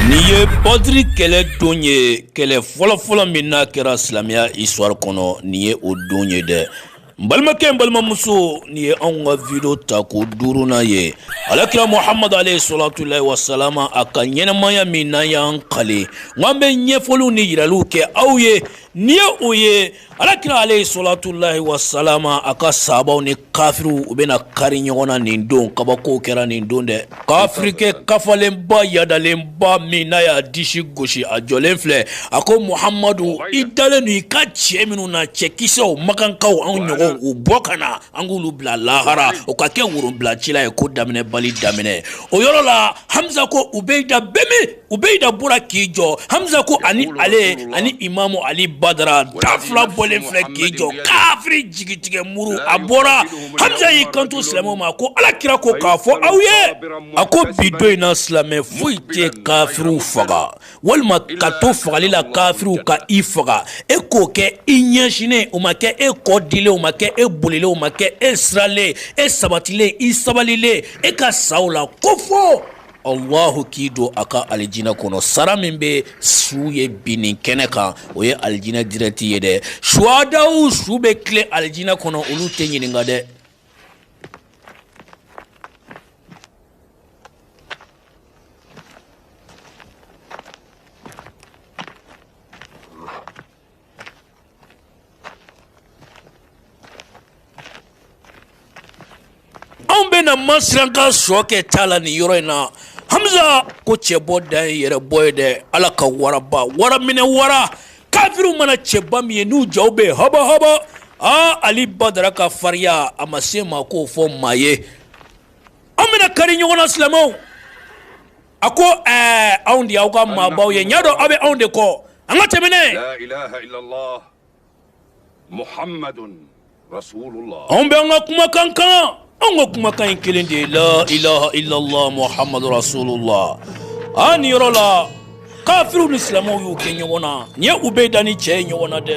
Nin ye badiri kɛlɛ don ye kɛlɛ fɔlɔfɔlɔ min n'a kɛra silamɛya isitiwari kɔnɔ nin ye o don ye dɛ n balimakɛ n balimamuso nin ye anw ka video tako duurunan ye ala kira muhamadu aleyi solatulayi wasalama a ka ɲɛnɛmaya min n'an y'an kali k'an bɛ ɲɛfɔliw ni yiraliw kɛ aw ye nin ye o ye Alakira aleyi solatulayi wasalama a ka sahabaw ni kafiriw u bɛna kari ɲɔgɔn na nin don kabako kɛra nin don dɛ kafirikɛ kafalenba yaadalenba min n'a y'a disi gosi a jɔlen filɛ a ko muhamadu i dalen don i ka cɛ minnu na cɛ kisɛw makankaw anw ɲɔgɔn u bɔ ka na an k'olu bila lahara o ka kɛ worobilacila ye ko daminɛ bali daminɛ o yɔrɔ la hamiza ko ubeyida bɛ min ubeyida bɔra k'i jɔ hamiza ko ani ale ani imamu ali badara da fila bɔlen filɛ k'i jɔ kafiri jigi tigɛ muru a bɔra hamiza y'i kanto silamɛ ma ko ala kira ko k'a fɔ aw ye a ko bi don in na silamɛ foyi tɛ kafiriw faga walima ka to fagali la kafiriw ka i faga e k'o kɛ i ɲɛsinnen o ma kɛ e kɔ dilen o ma kɛ e bolilen o ma kɛ e siralen e sabatilen i sabalilen e ka sa o la ko fo Alahu k'i don a ka alijinɛ kɔnɔ sara min bɛ su ye binnin kɛnɛ kan o ye alijinɛ dirɛkti ye dɛ suwadaw su bɛ tilen alijinɛ kɔnɔ olu tɛ ɲininka dɛ Anw bɛ na ma sirankan sɔ kɛ t'a la ni yɔrɔ in na hamiza ko cɛ bɔ da ye yɛrɛ bɔ ye dɛ ala ka waraba wara minɛ wara kafiriw mana cɛba min ye n'u ja bɛ yen hɔbɔ hɔbɔ aa ali badara ka farinya a ma se maa k'o fɔ maa ye an bɛna kari ɲɔgɔn na silamɛw A ko ɛɛ anw de y'aw ka maabaw ye ɲɛ dɔn aw bɛ anw de kɔ an ka tɛmɛn n'a ye anw bɛ an ka kumakan kan anw ka kumakan in kelen de ye la ilaha illallah muhamadu rasulullah a nin yɔrɔ la kafiriw ni silamɛw y'u kɛ ɲɔgɔn na nin ye ubeyida ni cɛ ye ɲɔgɔn na dɛ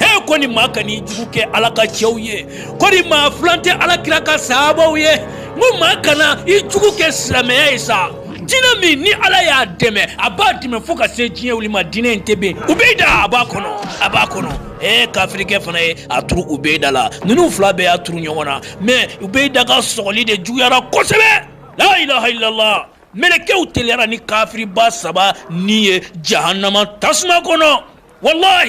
e kɔni maa kana i jugu kɛ ala ka cɛw ye kɔni maa filan tɛ ala kira ka sahabaw ye n ko maa kana i jugu kɛ silamɛya ye sa diinɛ min ni ala y'a dɛmɛ a b'a dɛmɛ fo ka se diɲɛ wuli ma diinɛ in tɛ ben ubeyida a b'a kɔnɔ a b'a kɔnɔ ee kafirikɛ fana ye a turu ubeyida la ninnu fila bɛɛ y'a turu ɲɔgɔn na mɛ ubeyida ka sɔgɔli de juguyara kosɛbɛ la ilaha illallah mɛlɛkɛw teliyara ni kafiriba saba ni ye jahanama tasuma kɔnɔ walahi